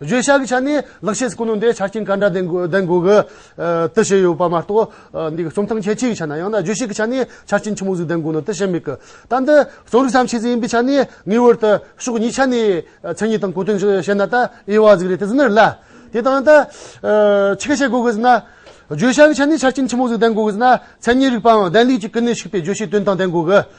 བརྗོད་བྱ་གི་ཆ་ནས་ལེགས་བཤད་ཀུན་ནོ་འདའི་ཆ་རྐྱེན་ག་འདྲ་ལྡན་དགོས་གི། དེ་བྱས་ཡོད་པ་མ་གཏོགས་འདི་རྩོམ་ཐང་ཁྱད་ཆོས་ཡི་ཆ་ན་ཡང་ན་བརྗོད་བྱེད་ཀྱི་ཆ་ནས་ཆ་རྐྱེན་ཆི་མོ་ཟིག་ལྡན་དགོས་ནོ་དེ་བྱས་མེད་གི། ད་འདི་རྩོམ་རིག་བསམ་ཤེས་ཟིག་ཡིན་པའི་ཆ་ནས་ངེས་བར་དུ་ཕྱོགས་གཉིས་ཆ་ནས་མཚན་ཉིད་དང་གོ་དོན་བཤད་ན་ད་དབྱེ་བ་ཟིག་རེད་དེ་ཟིག་ནི་ལ། དེ་དང་ད་ཕྱི་ག་བྱེད་དགོས་གི་ཟིག་ན། བརྗོད་བྱ་གི་ཆ་ནས་ཆ་རྐྱེན་ཆི་མོ་ཟིག་ལྡན་དགོས་གི་ཟིག་ན་མཚན་ཉིད་རིག་པའང་ལྡན་ལུས་ཀྱི་ཀུན་ནས་ཞུགས་པའི་བརྗོད་བྱའི་དོན་དང་ལྡན་དགོས་གི།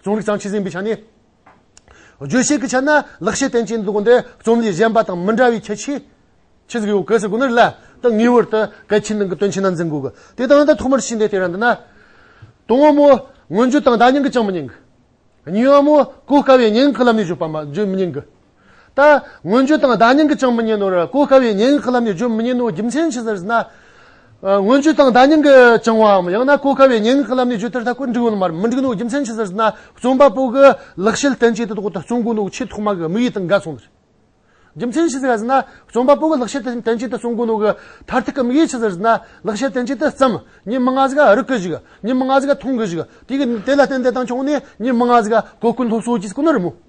རྩོམ་རིག་གཙང་ཆེ་ཟིན་པའི་ཆ་ནས། བརྗོད་བྱེད་ཀྱི་ཆ་ན་ལེགས་བཤད་བསྟན་ཅིང་འདུག་འདི་རྩོམ་ལས་གཞན་པ་དང་མི་འདྲ་བའི་ཁྱད་ཆོས། ཆེ་ཟེར་གྱི་ཡོད་གལ་སྲིད་དགོས་ན་རེ་ལ་དང་ངེས་བར་དུ་གལ་ཆེན་ནང་གི་དོན་ཆེན་ནང་འཛིན་དགོས། དེ་དང་དང་ཐོག་མར་ཕྱིན་ཏེ་དེ་རང་འདི་ན། དོན་དབང་མོ། མངོན་བརྗོད་དང་བརྡ་རྙིང་གིས་ཅང་མི་ཉན་གི། ཉིན་དབང་མོ། གོ་དཀའ་བའི་ཉེན་ཁའི་ལམ་ནས་བརྗོད་མི་ཉན་གི། ད། སྔོན་བརྗོད་དང་བརྡ་རྙིང་གིས་ཀྱང་མི་རྙེད་ནོ། གོ་དཀའ་བའི་ཉེས་ཡིན་ཁོ་ལམ་ནས་བརྗོད་མི་རྙེད་ནོ་རྒྱུ་མཚན་ཇི་ལྟར་ཟེར་ན། སྔོན་བརྗོད་དང་བརྡ་རྙིང་གིས་ཀྱང་བའམ་ཡང་ན་གོ་དཀའ་བའི་ཉེས་ཡིན་ཁོ་ལམ་ནས་བརྗོད་དེར་ད་བཀོད་འགྲིག་འོ་ན་མར་མི་འགྲིག་ནོ་རྒྱུ་མཚན་ཇི་ལྟར་ཟེར་ན། རྩོམ་པ་པོ་གིས་ལེགས་བཤད་བསྟན་བཅོས་དེ་དག་ཏུ་བརྩོན་དགོས་ནོ་ཆེས་ཐོག་མ་གི་དམིགས་ཡུལ་དང་འགལ་སོང་ཟེར། རྒྱུ་མཚན་ཇི་ལྟར་ཟེར་ན། རྩོམ་པ་པོ་གིས་ལེགས་བཤད་བསྟན་བཅོས་དེ་བརྩོན་དགོས་ནོ་གི་མཐར་ཐུག་གི་དམིགས་ཡུལ་ཇི་ལྟར་ཟེར་ན། ལེགས་བཤད་བསྟན་བཅོས་དེ་བརྩམ། ཉིད་མི་ང་ཟིག་རིག་གི་ཞིག། ཉིད་མི་ང་ཟིག་མཐོང་གི་ཞིག། དེ་ལ་བརྟེན་ཏེ་དང་བྱུང་ནས་ཉིད་མི་ང་ཟིག་གོ་ཀུན་སློབ་གསོ་གྱིས་ཀུན་རིམ་མོ།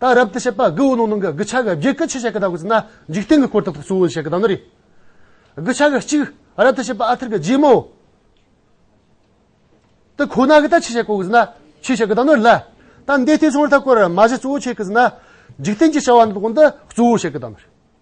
ད་རབ་ཏུ་བཤད་པ་དགུའི་ནང་ནང་གི་དགུ་ཆ་གི་བརྒྱད་ཀུན་ཆེ་ཆེ་གི་དག་གིས་ན་འཇིག་རྟེན་གྱི་སྐོར་དག་ཏུ་གཙོ་བོ་ཆེ་གི་དག་ནི་རེད། དགུ་ཆ་གི་གཅིག་རབ་ཏུ་བཤད་པ་ཨ་ཐར་གྱི་རྗེས་མོ། དེ་ཁོ་ན་གི་ད་ཆེ་ཆེ་གོ་གིས་ན་ཆེ་ཆེ་གི་དག་ནི་ལ། ད་འདས་ལྟའི་ཚོང་ར་ཐག་སྐོར་མ་བཞི་གཙོ་བོ་ཆེ་གིས་ན་འཇིག་རྟེན་གྱི་བྱ་བ་འདི་དག་གོང་དུ་གཙོ་བོ་ཆེ་གི་དག་ནི་རེད།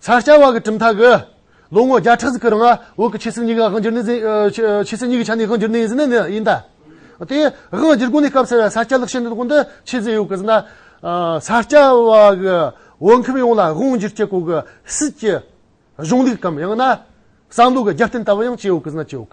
ས་སྐྱ་བ་གི་གྲུབ་མཐའ་གི། ལོ་ངོ་བརྒྱ་ཕྲག་གི་རིང་ལ་བོད་ཀྱི་ཆོས་སྲིད་གཉིས་ཀྱི་དབང་སྒྱུར་ནི་འཛིན། ཆོས་སྲིད་གཉིས་ཀྱི་ཆ་ནས་དབང་སྒྱུར་ནི་འཛིན་ནི་ཡིན། དེ་ཡང་དབང་སྒྱུར་དགོན་གྱི་སྐབས་ཟེར་བའི་ས་སྐྱ་ལག་ཤེས་འདི་དགོན་དུ་ཆོས་སྲིད་ཡོད་དགོས་ཟེར་ན། ས་སྐྱ་བ་གི་བོད་ཁམས་ཡོངས་ལ་དབང་སྒྱུར་བྱེད་དགོས་གི་སྲིད་ཀྱི་གཞུང་ལུགས་དམ་ཡང་ན་བསམ་བློ་གི་རྒྱབ་རྟེན་ལྟ་བུ་ཡང་བྱས་ཡོད་དགོས་ཟེར་ན་ཅི་ཡོད།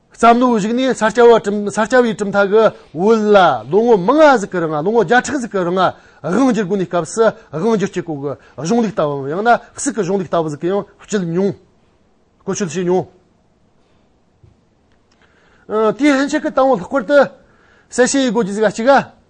བསམ་བློའི་གཞུག་ནས་ས་སྐྱ་བའི་གྲུབ་མཐའ་གི་བོད་ལ་ལོ་ངོ་མང་ང་ཟིག་གི་རིང་ལོ་ངོ་བརྒྱ་ཕྲག་ཟིག་གི་རིང་དབང་བསྒྱུར་དགོས་ནས་སྐབས་སུ་དབང་བསྒྱུར་སྤྱི་ཁོག་གི་གཞུང་ལུགས་ལྟ་བུའམ་ཡང་ན་སུག་གི་གཞུང་ལུགས་ལྟ་བུ་ཟིག་གི་ཡང་བསྐྱུལ་མྱོང་བཀོལ་སྤྱོད་བྱས་མྱོང། དེའི་ཕྱིན་ཆད་ཀྱི་དང་བོ་ལྷག་པར་དུ་གསལ་བཤད་ཡོད་དགོས་ཀྱི་ཟིག་ག་གཅིག་ག།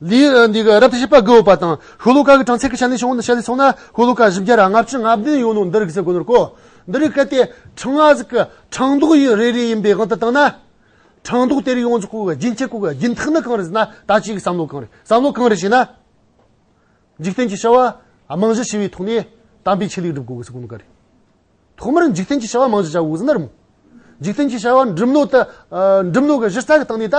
རབ་ཏུ་ཕྱེད་པ་དགུ་པ་དང། ཤུ་ལུ་ཀ་གི་གྲངས་ཚད་ཀྱི་ཞལ་ནས་བྱུང་བ་འདི་ཞལ་ལས་གསུངས་ན། ཤུ་ལུ་ཀ་བཞི་བརྒྱ་ར་ལྔ་བཅུ་ལྔ་བདུན་ཡོད་ནོ་འདིར་གསལ་གོ་ནོར་གོ། འདི་རིགས་གལ་ཏེ་ཁྲི་ལྔ་གཟིགས་ཀྱི་ཁྲངས་མདོག་ཡིན་རེ་རེ་ཡིན་པའི་དབང་དུ་བཏང་ན། ཁྲངས་མདོག་དེ་རིགས་ཡོངས་ཀྱི་སྐུ་གི་རྒྱུན་བཅས་སྐུ་གི་རྒྱུན་ཐིག་ནི་གང་རེད་ཟེར་ན་ད་ཅིའི་བསམ་བློ་གང་རེད་བསམ་བློ་གང་རེད་ཞེ་ན། འཇིག་རྟེན་གྱི་བྱ་བ་རྨང་གཞི་ཞི་བའི་ཐོག་ནས་དམ་པའི་ཆོས་ལུགས་སྒྲུབ་དགོས་གི་སྐུ་གནས་ག་རེ། ཐོག་མར་འཇིག་རྟེན་གྱི་བྱ་བ་རྨང་གཞི་བྱ་དགོས་གི་ཟེར་ན་རུང། འཇིག་རྟེན་གྱི་བྱ་བ་འགྲིམ་ནོ་ད་འགྲིམ་ནོ་གི་གཞི་རྩ་གི་སྟེང་ནས་ད།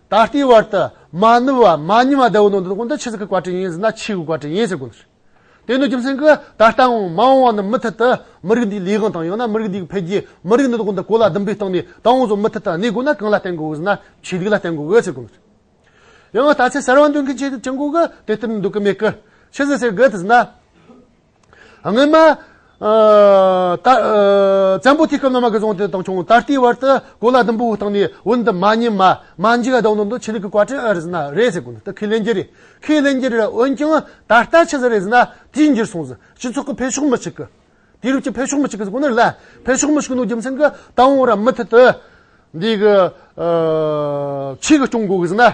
ད་ལྟའི་བར་དུ་མ་ནུབ་བ་མ་ཉམས་བ་བདེ་བོ་ནོར་འདི་དགོངས་དོན་ཆོས་ཚིག་གི་བཀའ་དྲིན་ཡིན་ཟེར་ན་ཆོས་ཀྱི་བཀའ་དྲིན་ཡིན་ཟེར་དགོས་ཚུལ། དེ་ནི་རྒྱུ་མཚན་གྱིས་ད་ལྟའང་མ་འོངས་བ་ནི་མུ་མཐུད་དུ་མི་རིགས་འདིའི་ལས་དབང་དང་ཡང་ན་མི་རིགས་འདིའི་འཕེལ་རྒྱས་མི་རིགས་འདི་དགོངས་དོན་གོ་ལ་ཟླུམ་པོའི་སྟེང་ནས་ད་ཨང་བཟོ་མུ་མཐུད་དུ་གནས་དགོས་ན་གང་ལ་བརྟེན་དགོས་ཟེར་ན་ཆོས་ལུགས་ལ་བརྟེན་དགོས་ཟེར་དགོས་ཚུལ། ཡང་ལྟ་ཚེ་གསར་བ་འདོན་མཁན་གྱི་ཆེད་དུ་ཅི་འགོག་གི་དེ་ལྟར་འདོད་ཀྱི་མེད་ཀི། ཕྱི་ཟེར་ཟེར་དགོས་ཟེར་ན། སྔོན་མ། བཙན་པོ་དུས་སྐབས་ནང་མ་གི་རྫོང་དེ་དང་ཁྱུང་ད་ལྟའི་བར་དུ་གོ་ལ་ཟླུམ་པོ་བཏང་ནས་བོད་འདི་མ་རྙེད། མ་འཇིག་ལྡོག་འདི་འདུག་ཆོས་ལུགས་ཀྱི་བཀའ་དྲིན་ཨེ་རེད་ཟེར་ན་རེད་ཟེར་གོ་འདི་ཁས་ལེན་རྒྱུ་རེད་ཁས་ལེན་རྒྱུ་རེད་འོན་ཀྱང་ད་ལྟ་ཆི་ཟེར་རེད་ཟེར་ན་དུས་འགྱུར་སོང་ཟེར་སྤྱི་ཚོགས་ཀྱི་འཕེལ་ཕྱོགས་མི་གཅིག་གི། དུས་རབས་ཀྱི་འཕེལ་ཕྱོགས་མི་གཅིག་གི་ཟེར་གོ་ནི་ལ་འཕེལ་ཕྱོགས་མི་གཅིག་ནང་རྒྱུ་མཚན་གྱི་ད་འོང་ར་མུ་མཐུད་དུ། འདི་གི། ཆོས་ཀྱི་སྐྱོང་དགོས་གི་ཟེར་ན།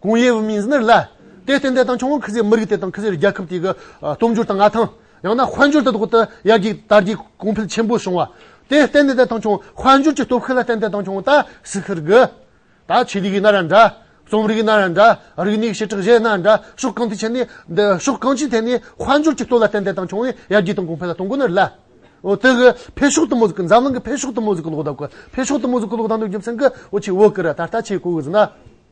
ཀུང་ཡེ་ཝུའུ་མིང་ཟི་ནེར་ལ། དེར་བརྟེན་བདེ་ཐང་ཆུང་ངུ་ཁི་ཟེར་མི་རིགས་དེ་དང་ཁི་ཟེར་རྒྱལ་ཁབ་དེ་གི་སྟོབས་འབྱོར་དང་མངའ་ཐང། ཡང་ན་དཔལ་འབྱོར་དེ་དག་ཏུ་ཡར་རྒྱས་དར་རྒྱས་གོང་འཕེལ་ཆེན་པོ་བྱུང་བ། དེར་བརྟེན་བདེ་ཐང་ཆུང་དཔལ་འབྱོར་གྱི་སྟོབས་ཤུགས་ལ་བརྟེན་བདེ་ཐང་ཆུང་ད་སི་ཁི་རི་གི། ད་ཆི་རི་གི་ན་ར་འདྲ། རྩོམ་རིག་ན་ར་འདྲ། རིག་གནས་ཞེ་དྲག་གཞས་ན་འདྲ་ཕྱོགས་གང་ཐད་ཆེ་ནས། ཕྱོགས་གང་ཅིའི་ཐད་ནས་དཔལ་འབྱོར་གྱི་སྟོབས་ལ་བརྟེན་བདེ་ཐང་ཆུང་ནས་ཡར་རྒྱས་དང་གོང་འཕེལ་ལ་གཏོང་དགོས་ནི་ལ། དེ་གི་འཕེལ་ཕྱོགས་དུ་མོ་ཟི་ཁི་འཛམ་གླིང་གི་འཕེལ་ཕྱོགས་དུ་མོ་ཟི་ཁི་ལོག་ལྟ་གི་འཕེལ་ཕྱོགས་དུ་མོ་ཟི་ཁི་ལོག་ལྟ་འདོན་རྒྱུ་མཚན་གི་འོ་ཆི་འོ་ཀི་ར་ད་ལྟ་ཆེས་གོ་གི་ཟི་ན།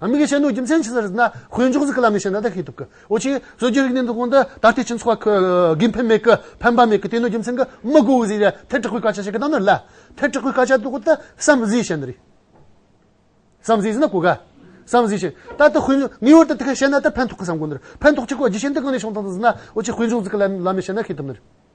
ཨ་མི་གི་ཆེད་དུ་རྒྱུ་མཚན་ཅི་ཟེར་ན་དཔོན་ཆུང་ཟིག་གི་ལམ་ནས་བྱས་ན་ད་ཤེས་ཐུབ་གི་འོ་ཅི་སྲོལ་རྒྱུན་རིག་གནས་འདི་གོང་དུ་ད་ལྟའི་སྤྱི་ཚོགས་ལ་གི་ཕན་མེད་གི་ཕན་པ་མེད་གི་དེ་ནི་རྒྱུ་མཚན་གི་མི་དགོས་གི་ཟིག་རེད་ཐལ་དྲག་པོའི་སྐད་ཆ་བཤད་གི་གཏང་ན་ལ་ཐལ་དྲག་པོའི་སྐད་ཆ་དོག་ཏུ་བསམ་གཟིགས་བྱས་ན་རེད་བསམ་གཟིགས་ཟིན་ན་གོ་ག་བསམ་གཟིགས་བྱས་ད་ལྟ་དཔོན་ཆུང་ངེས་བར་དུ་དེ་ག་བྱས་ན་ད་ཕན་ཐོག་གི་བསམ་གོ་ནི་རེད་ཕན་ཐོག་ཅིག་གོ་རྒྱུ་མཆན་འདི་གང་ནས་བྱུང་བཏང་ཟིན་ན་འོ་ཅི་དཔོན་ཆུང་ཟིག་གི་ལམ་ལམ་ནས་བྱས་ན་ཤེས་ཐུབ་ནི་རེད།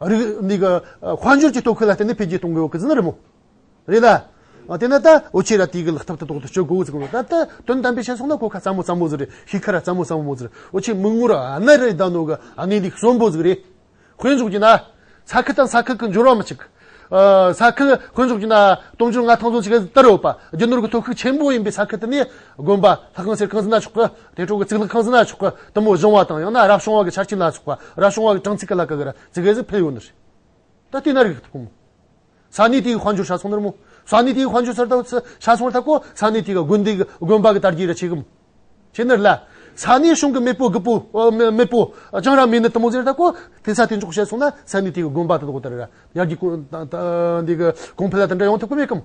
རིགས་དབང་སྒྱུར་གྱི་དོ་ཁུར་ལ་བརྟེན་ནས་འཕེལ་རྒྱས་གཏོང་དགོས་ཀྱི་ཟིན་རེད་མོད། རེད་ད། དེས་ན་ད་འོ་ཆེ་ར་དེ་གི་ལག་ཐབས་དེ་ཐོག་ཏུ་སྤྱོད་དགོས་ཟིག་རེད་ད། དོན་དམ་པའི་བཤད་སོང་ན་གོ་ཁ་ཙམ་མོ་ཙམ་མོ་ཟིག་རེད་ཤི་ཁ་ར་ཙམ་མོ་ཙམ་མོ་ཟིག་རེད་འོ་ཆེ་མིག་ངོར་ཨ་ནེ་རེད་ད་ནོ་གི་ཨ་ནེ་འདི་གསོན་པོ་ཟིག་རེད། དཔེ་འཇོག་གྱིས་ན། ས་ཁུལ་དང་ས་ཁུལ་གྱི་འབྱོར་བ་མི་གཅིག། ས་ཁུལ་དཔེ་འཇོག་གྱིས་ན་དུང་ཕྱུར་ལྔ་ཐང་ཚོ་གཅིག་གི་སྟེང་རེད་བ། རྒྱུ་ནོར་གྱི་ཐོ་ཁུག་ཆེན་པོ་ཡིན་པའི་ས་ཁུལ་དེ་ནི་དགོན་པ་ལྷ་ཁང་ཟེར་གང་ཟིན་ན་ཆོག་གི། དེ་དྲུག་གི་ཚིག་ལ་ཁང་ཟི་ན་ཆོག་གི་དུམ་བུ་གཞུང་བ་དང་ཡང་ན་རབ་བྱུང་བ་གི་ཆར་ཆུ་ལ་སོགས་པ་རབ་བྱུང་བ་གི་གྲངས་ཚིག་གི་ལ་ཀ་གི་ར་ཙི་གེ་ཟི་ཕེ་ཡོ་ནི་རེད། ད་ལྟའི་ན་རིག་ཐུག་མོ། ས་གནས་དེ་གི་དཔལ་འབྱོར་ཆ་ཚང་དར་མོ། ས་གནས་དེ་གི་དཔལ་འབྱོར་ཚར་ཐག་ཆ་ཚང་ཐག་གོ་ས་གནས་དེ་གི་དགོན་སྡེ་གི་དགོན་པ་གི་དར་རྒྱས་ར་ཆེ་གི་མོ། ཁྱེད་ནི་ལ། ས་གནས་གཞུང་གི་མེས་པོ་གི་པོ། མེས་པོ། ཅང་ར་མེས་ནི་དུམ་བུ་ཟེར་ཐག་གོ། དེ་ས་དེ་འཇོག་བྱས་སོང་ན་ས་གནས་དེ་གི་དགོན་པ་དང་དགོ་དར་ར་ཡར་རྒྱས་གོང་འཕེལ་ལ་དེ་འདྲ་ཡོང་ཐུབ་གི་མེད་གི་མོ།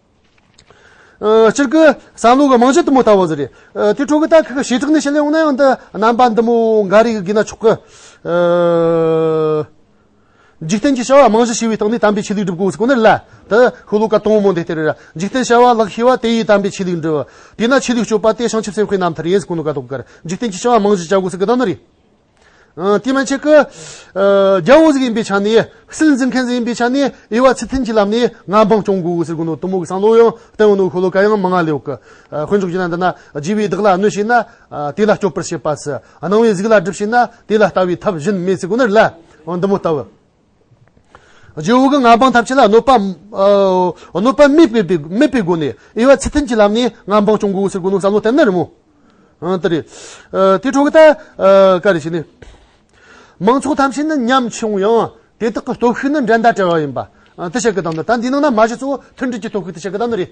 སྤྱིར་སྐུ་གསང་ལུགས་མང་ཆེན་དུ་མོ་ལྟ་བུ་ཟེར། དེའི་ཁྲོད་ཀྱི་ཏཱ་ཁི་ཀ་ཞེ་དྲག་ནི་ཕྱི་ལས་འོངས་ན་ཡང་འདི་རྣམ་པ་འདི་མོ་འགའ་རེ་ཡིན་ན་ཆོག་གི། འཇིག་རྟེན་གྱི་བྱ་བ་རྨང་གཞི་ཞེས་པའི་སྟེང་ནས་དམ་པའི་ཆོས་ལུགས་སྒྲུབ་དགོས་ཀྱི་ནི་ལ། དེ་ཧུ་ལུ་ཀ་དོང་མོ་འདི་ལྟར། འཇིག་རྟེན་བྱ་བ་ལགས་ཤེས་པ་དེ་ཡིས་དམ་པའི་ཆོས་ལུགས་འགྲུབ། དེས་ན་ཆོས་ལུགས་སྤྱོད་པ་སྟེ་བྱང་ཆུབ་སེམས་དཔའི་རྣམ་ཐར་ཡིན་གོ་ནི་ཀ་ཏོག་གར། འཇིག་རྟེན་གྱི་བྱ་བ་རྨང་གཞི་བྱ་དགོས་ཀྱི་ནི་རེད། དེ་མ་ཆེ་ཀི། རྒྱ་འོག་ཟིག་ཡིན་པའི་ཆ་ནས། སིལ་འཛིན་མཁན་ཟིག་ཡིན་པའི་ཆ་ནས། དབྱེ་བ་ཚད་ཐིམ་གྱི་ལམ་ནས་ང་འཕང་སྐྱོང་དགོས་ཟེར་དགོས་འདུག་གཏུམ་མོ་གི་སང་ལོ་ཡང་བསྟན་འོ་ནུ་ཤོ་ལོ་ཀ་ཡང་མི་མངའ་ལེའོ་ཀི། དཀོན་མཆོག་གྱིས་ན་འདི་ན་རྒྱལ་བའི་བདག་ལ་གནོད་བྱས་ན། དེ་ལ་སྐྱོབ་པར་བྱེད་པ། སྣང་བའི་གཟུགས་ལ་སྒྲུབ་བྱེད་ན། དེ་ལ་ལྟ་བའི་ཐབས་གཞན་མེད་ཟེར་དགོས་ནི་ལ། འདི་མོ་ལྟ་བུ། རྗེ་བོ་གི་མངའ་འབངས་ཐམས་ཅད་ལ་གནོད་པ་གནོད་པ་མེད་པའི་མེད་པའི་སྒོ་ནས་དབྱེ་བ་ཚད་ལྡན་གྱི་ལམ་ནས་མངའ་འབངས་སྐྱོང་དགོས་ཟེར་དགོས་ནོ་བསམ་བློ་བསྟན་ན་རི་མོ། ཨང་དེ་རེད། དེ་འཕྲོ་གི་ད་ག་རེ་བྱས་ནས། མང་ཚོགས་ཐམས་ཅད་ནི་ཉམས་ཆུང་ཡང་དེ་དག་གི་སྟོབས་ཤུགས་ནི་འགྲན་ཟླ་བྲལ་བ་ཡིན་པ། ཨང་དེ་བཤད་གི་གདམས་ན་ད་འདི་ནང་ན་མ་གཞི་གཙོ་བོ་མཐུན་སྒྲིལ་གྱི་སྟོབས་ཤུགས་དེ་བཤད་གི་གདམས་ནི་རེད།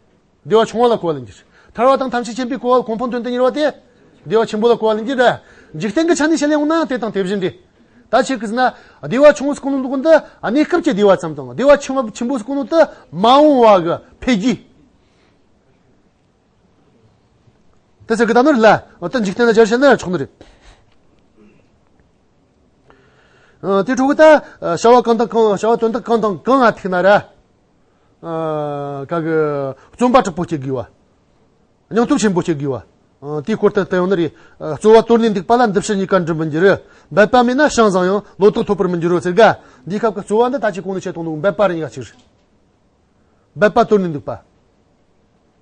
བདེ་བ་ཆུང་བ་ལ་གོ་བ་ལེན་གྱི། ཐར་བ་དང་ཐམས་ཅད་མཁྱེན་པའི་གོ་བ་ལ་གོ་འཕང་དོན་དུ་གཉེར་བ་སྟེ། བདེ་བ་ཆེན་པོ་ལ་གོ་བ་ལེན་གྱི། འཇིག་རྟེན་གྱི་ཆ་ནས་བཤད་ལེན་འོང་ན་དེ་དང་དེ་བཞིན་ཏེ། ད་ཆེ་གེས་ན། བདེ་བ་ཆུང་བ་སྐུ་ལུང་དུ་འདི་གནས་སྐབས་ཀྱི་བདེ་བ་ཙམ་དང་བདེ་བ་ཆེན་བ་ཆེན་པོ་སྐུ་ལུང་དུ་མ་འོང་བ་གི་ཕས་རྒྱུ། དེ་ཚེ་གེ་ད་ནོར་ལ་ཨོ་ཏི་འཇིག་རྟེན་ལ་སྦྱར་བྱས་ན་ཆོག་ནི་རེད། དེ་དྲུག་གི་ད་བྱ་བ་གང་དང་གང་བྱ་བ་དོན་དག་གང་དང་གང་ང་ཐིག་ན་ར། བརྩོན་པ་དྲག་པོ་བྱེད་དགོས་བ། སྙིང་སྟོབས་ཆེན་པོ་བྱེད་དགོས་བ། དེའི་སྐོར་དུ་དོན་རེ། རྩོལ་བ་དོར་ནས་འདུག་པ་ལ་འདི་ཕྱི་གཉིས་ཀ་འགྲུབ་མི་འགྱུར། འབད་པ་མེད་ན་ཤིང་བཟང་ཡང་ལོ་ཏོག་འཐོབ་པར་མི་འགྱུར་རོ་ཟེར་དགའ། འདིའི་སྐབས་ཀྱི་རྩོལ་བ་འདི་ལྟ་ཅི་གང་ནས་བྱེད་དང་འདུག་འབད་པ་རེ་ཡིན་ཡ་ཕྱིར། འབད་པ་དོར་ནས་འདུག་པ།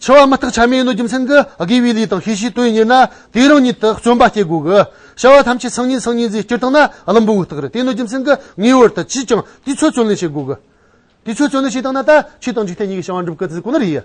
འཆི་བ་མི་རྟག་ཆ་མེད་ནོ་རྒྱུ་མཚན་གྱིས་དགེ་བའི་ལས་དང་ཤེས་བྱའི་དོན་གཉེར་ན་དེས་རང་ཉིད་དུ་བརྩོན་པ་བསྐྱེད་དགོས་གི། བྱ་བ་ཐམས་ཅད་སང་ཉིན་སང་ཉིན་ཟེར་སྤྱིར་བཏང་ན་བླུན་པོའི་རྟགས་རེད་དེ་ནི་རྒྱུ་མཚན་གྱིས་ངེས་བར་དུ་ཅིས་ཀྱང་དུས་ཚོད་བརྩོན་ལེན་བྱེད་དགོས་གི། དུས་ཚོད་བརྩོན་ལེན་བྱེད་སྟངས་ནི་ད་ཁྱེད་དང་འཇིག་རྟེན་གཉིས་ཀྱི་བྱ་བ་འགྲུབ་གི་དུས་ཁོ་ན་རེད།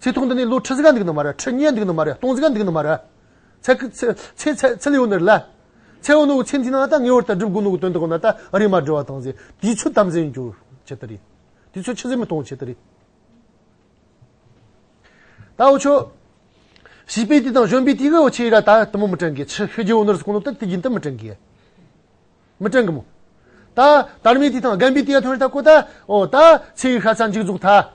ཚེ་ཐུང་འདི་ནི་ལོ་ཁྲི་ཟིག་ག་འདུག་ནི་མ་རེད་ཁྲི་ཉིས་འདུག་ནི་མ་རེད་སྟོང་ཟིག་ག་འདུག་ནི་མ་རེད། ཚེ། ཚེ། ཚེ་ལེའུ་འདིར་ལ། ཚེ་ཨོ་ནུ་ཚེ་འདི་ན་ད་ངེས་བར་ད་སྒྲུབ་དགོས་ནུ་གི་དོན་དུ་གོ་ན་ད་རིས་མ་འབྲི་བ་དང་ཚེ་དེའི་ཚུལ་དམ་འཛིན་འགྱུར་བྱེད་དུ་རིགས། དེའི་ཚུལ་ཕྱི་གཟིགས་མི་མཐོང་བྱེད་དུ་རིགས། ད་འོ་ཆོས། བྱིས་པའི་དུས་དང་གཞོན་པའི་དུས་ཀྱི་འོ་ཆོས་ཡིད་ལ་ད་དུ་མོ་མི་དྲན་གི་ཕྱི་ཤི་རྒྱུའི་འོ་ནུ་རུ་གོ་ནུ་ད་དུས་རྒྱུན་དུ་མི་དྲན་གི། མི་དྲན་གི་མོ། ད། དར་མའི་དུས་དང་རྒན་པའི་དུས་ཡ་ཐོན་རེ་ད་གོ་ད། འོ་ད། ཚེའི་ཤ་ཚ་འཇིགས་རྫོགས་ད།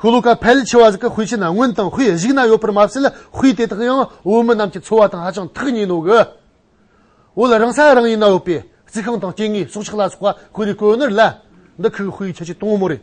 ཤུལ་ལུས་ཀ་ཕལ་ཆེ་བ་ཞིག་གི་དཔེ་ཆའི་ནང་སྔོན་དང་དཔེ་གཞིགས་ན་ཡོད་པར་མ་ཟད་དཔེ་དེ་དག་ཡང་བོད་མི་རྣམས་ཀྱི་འཚོ་བ་དང་ཧ་ཅང་ཐག་ཉེ་ནོ་གི། འོ་ལ་རང་ས་རང་ཡུལ་ན་ཡོད་པའི་རྩིས་ཁང་དང་སྐྱེ་དངོས་སྲོག་ཆགས་ལ་སོགས་པ་ཁོ་རེ་བཀོད་ནོར་ལ། འདི་ཁོའི་དཔེའི་ཁྱད་ཆོས་དང་མོ་རེད།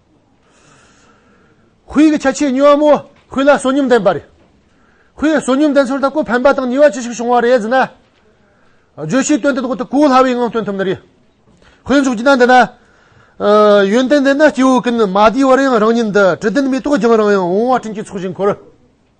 ཧུད་ཀྱི་ཆ་ཆེས་སྙི་བ་མོ་ཧུད་ལ་བསོད་སྙོམས་ལྡན་པ་རེད། ཧུད་བསོད་སྙོམས་ལྡན་ཚོར་ད་སྐུ་ཕན་པ་དང་ནུས་བ་ཅི་ཞིག་བྱུང་བ་རེད་ཟེར་ན། བརྗོད་གཞིའི་དོན་དེ་དག་ཏུ་གོ་སླ་བའི་ངང་སྟོན་ཐུབ་ནི་རེད། ཧུད་མཇུག་གྱིས་ན་འདི་ན། ཡོན་ཏན་ལྡན་ན་སྐྱེ་བོ་ཀུན་མ་བདེ་བར་ཡང་རང་ཉིད་འདི་དྲི་ལྡན་མེ་ཏོག་རྒྱང་རིང་ཡང་འོང་བ་སྤྲིན་གྱི་ཚོགས་བཞིན་འཁོར།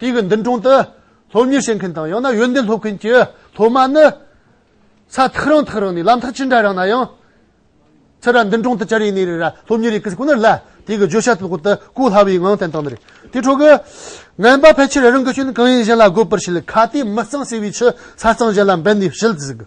དེ་གི་མདུན་དྲུང་དུ་སློབ་གཉེར་བྱེད་མཁན་དང་ཡང་ན་ཡོན་ཏན་སློབ་མཁན་གྱི་སློབ་མ་ནི། ས་ཐག་རིང་ཐག་རིང་ནས་ལམ་ཐག་ཅི་འདྲ་རིང་ན་ཡང། ཚེ་ར་མདུན་དྲུང་དུ་ཅར་ཡས་ནས་རེ་ར་སློབ་གཉེར་ཡི་གེ་ཟེར་ཁོ་ནར་ལ་དེ་གི་བརྗོད་བྱ་དང་པོ་དུ་གོ་སླ་བའི་ངང་བསྟན་བཏང་མེད། དེ་འཕྲོ་གི། ངན་པ་ཕལ་ཆེར་རང་གི་སྐྱོན་གང་ཡིན་གཞན་ལ་བགོད་པར་བྱེད་ལ་ཁ་དེ་མི་གཙང་ཟེར་བའི་ཕྱིར་ས་གཙང་གཞན་ལ་འབད་ནས་བྱེད་ཟིག།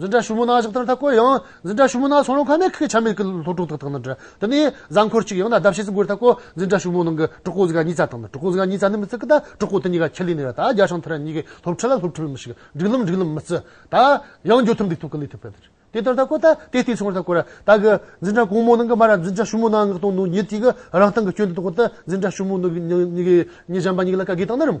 འཛིན་གྲྭ་ཞུ་མུ་ནག་ཞིག་དང་ཐག་བཀོད་ཡང། འཛིན་གྲྭ་ཞུ་མུ་ནག་ཚོང་རོགས་ཁང་ནས་ཁོས་ཆ་མེད་ཀི་ལྷོ་ཕྲུག་དག་དང་ནི་འབྲེལ། དེ་ནི་གཟའ་འཁོར་གཅིག་ཡང་ན་ཟླ་ཕྱེད་ཟིག་འགོར་ཐག་བཀོད། འཛིན་གྲྭ་ཞུ་མུ་ནང་གི་གྲོགས་པོ་གཟི་ཀ་གཉིས་རྩ་དང་ནི་གྲོགས་པོ་གཟི་ཀ་གཉིས་རྩ་ནི་མི་རྩི་གི་ད་གྲོགས་པོ་དེ་གཉིས་ཀ་ཁྱི་ལི་ནི་ར་ད་རྒྱ་ཤང་ཐི་ར་གཉིས་ཀའི་སློབ་ཁྲིད་ལ་སློབ་ཁྲིད་པའི་མི་ཞིག་སྒྲིག་ལམ་སྒྲིག་ལམ་མི་རྩི་ད། ཡང་འགྱོ་ཐུབ་འགྲིག་ཐུབ་ཀི་ལི་ཐུབ་པའི་དེ་དེ་ལྟར་ཐག་བཀོད་ད་དེ་ལྟའི་ཚོང་ར་ཐག་བཀོད་ར་ད་གི། འཛིན་གྲྭ་གོང་མོ་ནང་གི་མ་ར་འཛིན་གྲྭ་ཞུ་མུ་ནག་ངག་དང་ནུ་ཉི་དེ་གི་རང་སྟེང་གི་སྐྱོན་དེ་དང་བཀོད་ད་འཛིན་གྲྭ་ཞུ་མུ་ནུ་གཉིས་གཉིས་གཉིས་གཉིས་གཞན་པ་གཉིས་ལ་ག་གི་དང་ནི་རིམ།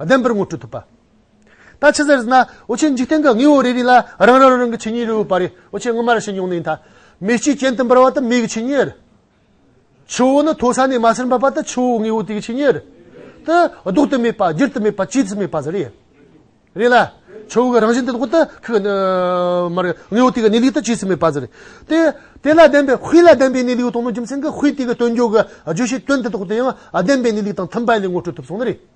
ལྡན་པར་ངོ་སྤྲོད་ཐུབ་པ། ད་ཕྱི་ཟེར་ཟིན་ན་འོ་ཆེན་འཇིག་རྟེན་གྱི་དངོས་བོ་རེ་རེ་ལ་རང་རང་རང་གི་ཆོས་ཉིད་རེ་བོ་པ་རེ་འོ་ཆེན་སྔོན་མར་བྱེད་མྱོང་ནི་ཡིན་ད། མེ་ལྕེའི་གྱེན་དུ་འབར་བ་དེ་མེ་གི་ཆོས་ཉིད། ཆུ་བོ་ནི་མཐོ་ས་ནས་དམའ་སར་འབབ་པ་དེ་ཆུ་བོའི་དངོས་བོ་དེ་གི་ཆོས་ཉིད། དེ་ལྡོག་ཏུ་མེད་པ་བསྒྱུར་དུ་མེད་པ་བཅོས་སུ་མེད་པ་ཟེར་རེད། རེད་ལ། ཆུ་བོ་གི་རང་བཞིན་དེ་ལྡོག་ཏུ་ཁུག་ནས་མར་རེད་དངོས་བོ་དེ་གི་གནས་ལུགས་དེ་བཅོས་སུ་མེད་པ་ཟེར་རེད། དེ། དེ་ལ་ལྡན་པའི་དཔེ་ལ་ལྡན་པའི་གནས་ལུགས་དང་ནི་རྒྱུ་མཚན་གྱི་དཔེ་དེ་གི་སྟོན་བསྒྱུར་གྱི་བརྗོད་བྱའི་དོན་དེ་དག་དེའང་ལྡན་པའི་གནས་ལུགས་དང་མཐུན་པ་ལས་ངོ་སྤྲོད་ཐུབ་སོང་ནི་རེད།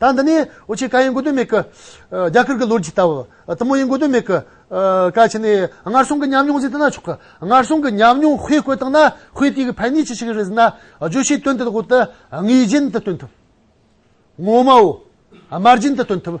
ད་འདི་ནས་འོ་ཆེ་ཀ་ཡིན་དགོས་དོན་མེད། རྒྱ་གར་གྱི་ལོ་རྒྱུས་ལྟ་བུ། ཏི་མོ་ཡིན་དགོས་དོན་མེད། ཀ་ཆེ་ནས་སྔར་སོང་གི་ཉམས་མྱོང་ཟིན་ཐུབ་ན་ཆོག་གི། སྔར་སོང་གི་ཉམས་མྱོང་དཔེ་བཀོད་བཏང་ན་དཔེ་དེ་གི་ཕན་ནུས་ཅི་ཞིག་རེད་ཟེར་ན། བརྗོད་བྱའི་དོན་དེ་དག་འོག་ཏུ་ངེས་རྒྱུན་དུ་སྟོན་ཐུབ། ངོ་མའོ། དམར་རྒྱུན་དུ་སྟོན་ཐུབ།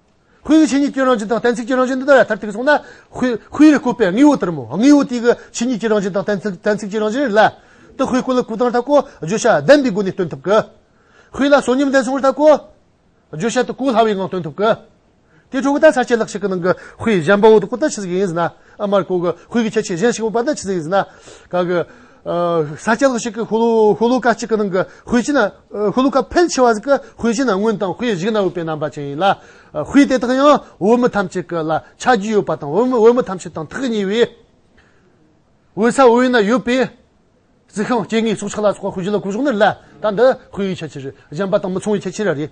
ཧུའེ་ཡི་ཆོས་ཉིད་ཀྱི་རང་བཞིན་དང་གཏན་ཚིགས་ཀྱི་རང་བཞིན་འདི་དག་ཡང་མཐར་ཐུག་གི་སོང་ན། ཧུའེ་ཧུའེ་རུ་བཀོད་པའི་དངོས་པོ་ལྟར་མོ། དངོས་པོ་དེ་གི་ཆོས་ཉིད་ཀྱི་རང་བཞིན་དང་གཏན་ཚིགས་གཏན་ཚིགས་ཀྱི་རང་བཞིན་རེད་ལ། དེ་ཧུའེ་སྐུ་ལ་སྐུ་དང་ལྷ་སྐུ། བརྗོད་བྱ་བདེན་པའི་སྒོ་ནས་སྟོན་ཐུབ་ཀི། ཧུའེ་ལ་བསོད་སྙོམས་བདེན་སོང་བར་ལྟ་སྐུ། བརྗོད་བྱ་དེ་སྐུ་སླ་བའི་ངང་སྟོན་ཐུབ་ཀི། དེའི་འཕྲོ་གི་དར་ཆ་ཆད་ལྷག་ཞིག་གི་ནང་གི་ཧུའེ་གཞན་པའོ་དེ་ཀུན་ལྟར་ཆི་ཟིག་ཡིན་ཟིན་ན། ཨ་མར་ཀོ་གི་ཧུའེ་གི་ཁྱད་ཆོས་གཞན་ཞིག་མོ་པ་ནི་ཆི་ཟིག་ཡིན་ཟིན་ན། ག་གི། ས་ཆ་ལ་ཞིག་གི་ཧུ་ལུ་ཀ་གཅིག་གི་ནང་གི་དཔེ་ཆ་ན་ཧུ་ལུ་ཀ་ཕལ་ཆེ་བ་ཞིག་གི་དཔེ་ཆ་ན་སྔོན་དང་དཔེ་གཞིག་གནང་འོས་པའི་རྣམ་པ་ཅན་ཡིན་ལ། དཔེ་དེ་དག་ཡང་འོས་མི་ཐམས་ཅད་ཀྱི་ལ་ཆ་རྒྱུས་ཡོད་པ་དང་འོས་མི་ཐམས་ཅད་དང་ཐག་ཉེ་བས། འོས་ས་འོས་ན་ཡོད་པའི་རྩི་ཤིང་སྐྱེ་དངོས་སྲོག་ཆགས་ལ་སོགས་དཔེ་གཞི་ལ་གོ་བཞག་ནི་ལ་དྭགས་འདི་དཔེ་ཡི་ཆ་རྐྱེན་རིགས་གཞན་པ་དང་མི་མཚུངས་པའི་ཆ་རྐྱེན་རེད།